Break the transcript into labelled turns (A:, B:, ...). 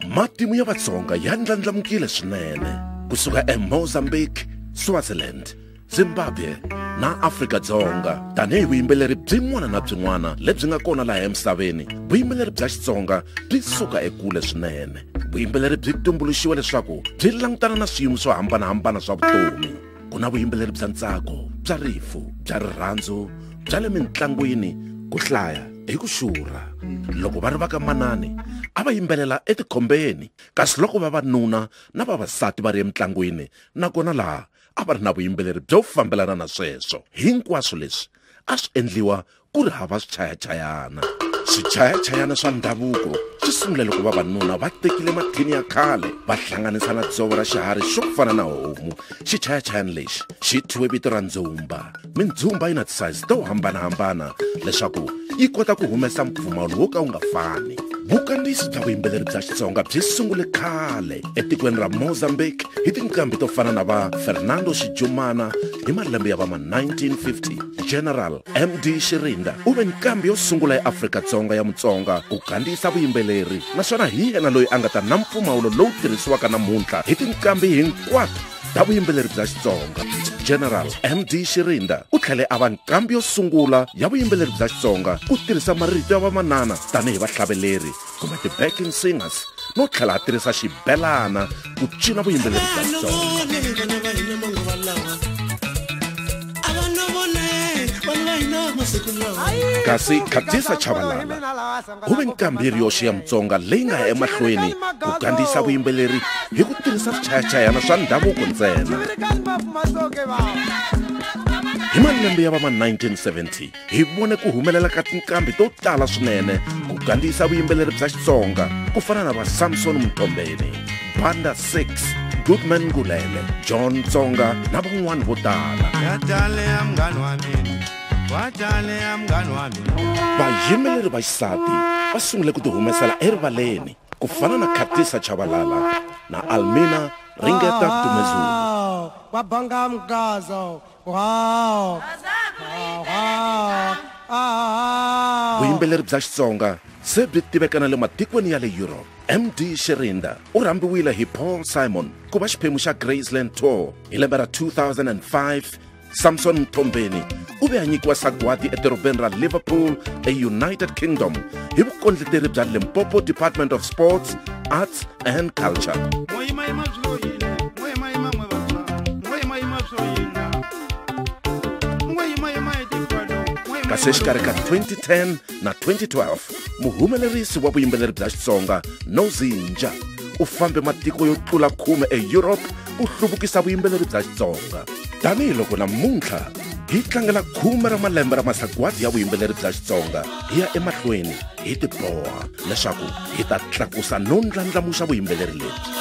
A: matimu ya vatsonga ya ndlandlamukile swinene kusuka emozambique swaziland zimbabwe na afrika-dzonga tanihi vuyimbeleri byin'wana na byin'wana lebyi nga kona laha emisaveni vuyimbeleri bya xitsonga byi suka ekule swinene vuyimbeleri byi tumbuluxiwe leswaku byi langutana na swiyimo swo hambanahambana swa vutomi ku na vuyimbeleri bya ntsako bya rifu bya rirhandzu bya le mintlangwini ku hlaya hi ku xurha loko va ri va ka manani a va yimbelela etikhombeni kasi loko vavanuna na vavasati va ri emitlangwini nakona laha a va ri na vuyimbeleri byo fambelana na sweswo hinkwaswo leswi a swi endliwa ku ri hava swichayachayana swichayachayana swa ndhavuko swi sungule loko vavanuna va tekile mathini ya khale va hlanganisa na dzovo ra xiharhi xo fana na homu xichayachayana lexi xi thyiwe vito ra ndzumba mindzumba yi na ti-size to hambanahambana leswaku yi kota ku humesa mpfumawulo wo ka wu nga fani vukandziyisi bya vuyimbeleri bya xitsonga byi sungule khale etikweni ra mozambique hi tinqambi to fana na va fernando xijumana hi malembe ya va ma-1950 general md xirinda u ve nqambi yo sungula ya afrika-dzonga ya mutsonga ku gandisa vuyimbeleri naswona hi yena loyi a nga ta na mpfumawulo lowu tirhisiwaka namuntlha hi tinqambi hinkwato ta vuyimbeleri bya xitsonga general md xirinda u tlhele a va nqambi yo sungula ya vuyimbeleri bya xitsonga ku tirhisa marito ya vamanana tanihi vahlaveleri kumbe ti-backing singers no tlhela a tirhisa xibelana ku cina vuyimbeleri bya kasi khatisa chavalala ku ve nkambiri yoxe ya mutsonga leyi nga ya emahlweni ku kandziyisa vuyimbeleri hi ku tirhisa swichayachayana swa ndhavuko ntsena hi malembe ya va ma 1970 hi vone ku humelela ka tinqambi to tala swinene ku gandiyisa vuyimbeleri bya xitsonga ku fana na va samson mtombeni banda 6 goodman ngulele john tsonga na van'wani vo tala vayimbeleri va xisati va sungule ku tihumesela erivaleni ku fana na khatisa chavalala na almina ringeta dumezulu kwabanga mgazo Wow. vuyimbeleri bya xitsonga se byi tiveka na le matikweni ya le europe md sherinda u rhambiwile hi paul simon ku va xiphemu xa graceland tour hi lembe ra 2005 samson mthombeni u ve a nyikiwa sagwadi edorobeni ra liverpool eunited kingdom hi vukondleteri bya limpopo department of sports arts and culture kasi exikarhi ka 2010 na 2012 muhumelerisi wa vuyimbeleri bya xitsonga nozinja u fambe matiko yo tlula khume eeurope ku hluvukisa vuyimbeleri bya xitsonga tanihiloko namuntlha hi tlangela khume ra malembe ra masagwadi ya vuyimbeleri bya xitsonga hi ya emahlweni hi tiboha leswaku hi ta tlakusa no ndlandlamuxa vuyimbeleri lebyi